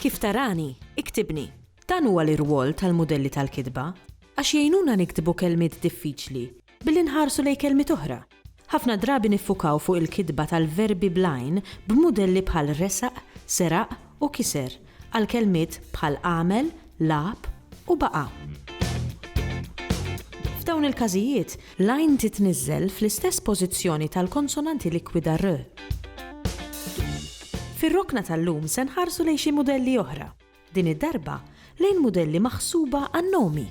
Kif tarani? Iktibni. Dan huwa l-irwol tal-mudelli tal-kitba għax jgħinuna niktbu kelmiet diffiċli billi nħarsu lejn kelmiet oħra. Ħafna drabi niffukaw fuq il-kitba tal-verbi bl-għajn b'mudelli bħal resaq, seraq u kiser għal kelmiet bħal għamel, lagħab u baqa'. F'dawn il-każijiet, l-għajn titniżżel fl-istess pożizzjoni tal-konsonanti likwida r. Fir-rokna tal-lum se nħarsu lejn xi mudelli oħra, din id-darba lejn mudelli maħsuba għan-nomi.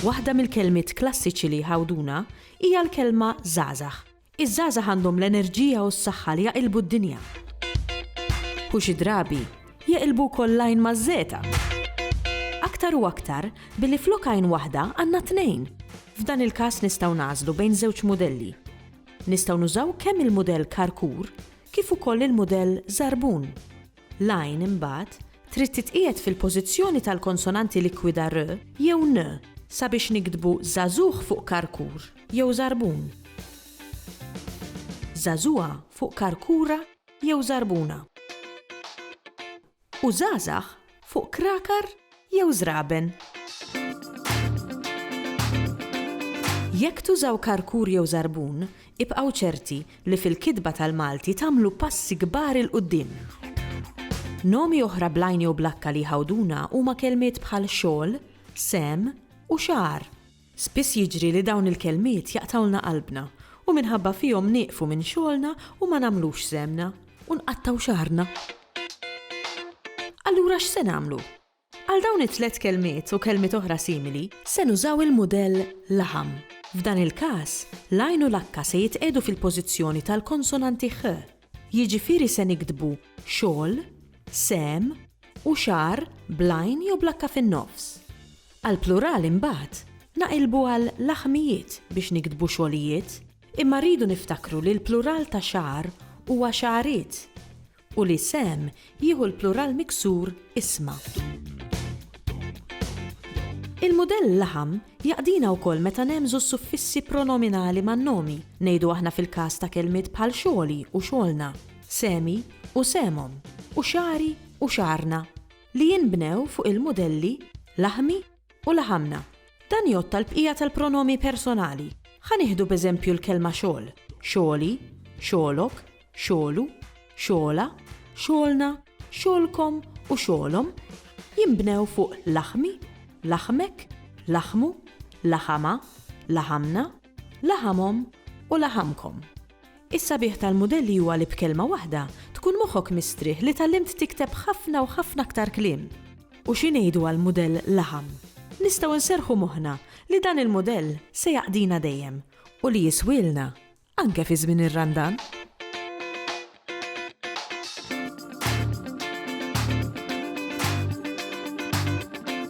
Waħda mill-kelmiet klassiċi li jħawduna hija l-kelma żgħażagħ. Iż-żgħażagħ għandhom l-enerġija u s-saħħa li jaqilbu d-dinja. U xi drabi, jeqilbu wkoll l-għajn maż-żegħta. Aktar u aktar, billi flok għajn waħda għandna tnejn. F'dan il-każ nistgħu nagħżlu bejn żewġ mudelli. Nistgħu nużaw kemm il-mudell Karkur kif ukoll il-mudell Żarbun. L-għajn, imbagħad, trid titqiegħed fil-pożizzjoni tal-konsonanti likwida r jew n sabiex niktbu żagħżugħ fuq karkur jew żarbun, żagħżugħa fuq karkura jew żarbuna u żgħażagħ fuq krakar jew żraben. Jekk tużaw karkur jew żarbun, ibqgħu ċerti li fil-kitba tal-Malti tagħmlu passi kbar 'il quddiem. Nomi oħra bl-għajn jew bl-akka li jħawduna huma kelmiet bħal xogħol, sehem, u xagħar. Spiss jiġri li dawn il-kelmiet jaqtgħulna qalbna u minħabba fihom nieqfu minn xogħolna u ma nagħmlux żhemmna u nqattgħu xagħarna. Allura x'se nagħmlu? Għal dawn it-tliet kelmiet u kelmiet oħra simili, se nużaw il-mudell laħam. F'dan il-każ, l-għajn u l-akka se jitqiegħdu fil-pożizzjoni tal-konsonanti ħ Jiġifieri se niktbu xogħol, sehem u xahar bl-għajn jew bl-H fin-nofs. Għall-plural imbagħad naqilbu għal laħmijiet biex niktbu xogħlijiet imma rridu niftakru li l-plural ta' xahar huwa xagħariet u li sehem jieħu l-plural miksur isma'. Il-mudell laħam jaqdina wkoll meta nehmżu s-suffissi pronominali man-nomi, ngħidu aħna fil-każ ta' kelmiet bħal xogħli u xogħolna, sehmi u sehmhom, u xagħri u xagħarna, li jinbnew fuq il-mudelli laħmi, U laħamna. Dan jgħodd għall-bqija tal-pronomi personali. Ħa nieħdu b'eżempju l-kelma xogħol, xogħli, xogħlok, xogħlu, xogħla, xogħolna, xogħolkom u xogħolhom jinbnew fuq laħmi, laħmek, laħmu, laħamha, laħamna, laħamhom u laħamkom. Is-sabiħ tal-mudelli huwa li b'kelma waħda tkun moħħok mistrieħ li tgħallimt tikteb ħafna u ħafna aktar kliem. U xi ngħidu għal mudell laħam? Nistgħu nserrħu moħħna li dan il-mudell se jaqdina dejjem u li jiswielna anke fi żmien ir-Randan.